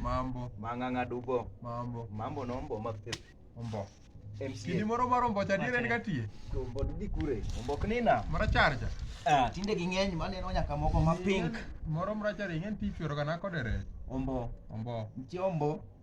Mambo. Mang'ang'a dubo. Mambo. Mambo nombo mapipi. Ombo. Kidi moro mar ombo cha dire en katie. Ombo didi kure. Ombo knina. Mara charja. Ah, tinde ging'eny maneno nyaka moko ma pink. Moro mara charja ng'en ti chwero kana kodere. Ombo. Ombo. Nitie ombo.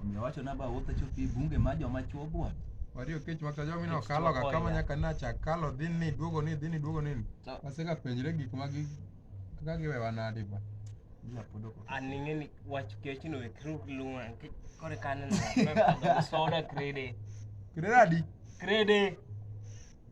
Omiyo wacho na ba wuotho chopi bunge ma joma chuo buon. Wario kech waka jomi no kalo ka kama nyaka na cha kalo dhi ni duogo ni dhi ni duogo ni. Aseka penjre gik ma gi kaka giwe wanadi ba. Aning'e ni wach kech no e kruk lunga kech kore kaneno soda krede. Krede adi? Krede.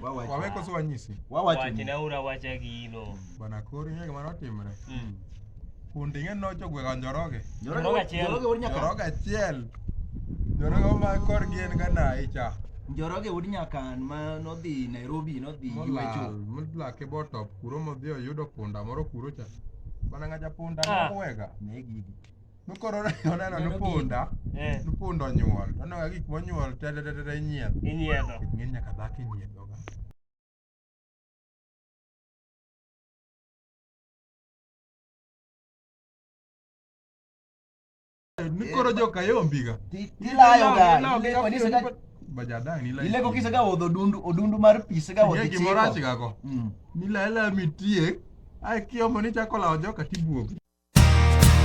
Wawacho. Wawe koso wanyisi. Wawacho. Wache ni. na ura wacha gino. Bana koro ing'e gima notimre. Mm. Kundi ing'e nocho gwega njoroge. Njoroge Njoroge achiel. Njoroge wuod nyaka. Njoroge achiel. Njoroge oma kor gin ga nayi cha. Njoroge wuod nyakan ma nodhi Nairobi nodhi Molal. yuecho. Molake botop kuro modhi oyudo punda moro kuro cha. Bana ng'aja punda Ah. moko wega. Ne gidi. Nokoro oneno nopunda, Eh. nopunda onyuol. Oneno ka gik monyuol tetetetete inyiedho. Inyiedho. Ng'eny nyaka dhako inyiedhoga. Nikoro joka yombiga. Ti- Tilayoga. Ilego nisega Bajadang nila. ilego kisega odho odundu odundu mar pi sega odhi Ng'e gimoro chiko. achigago. Mm. Nila ela mitiek. Ai kiomo ni chako lawo joka tibuogo.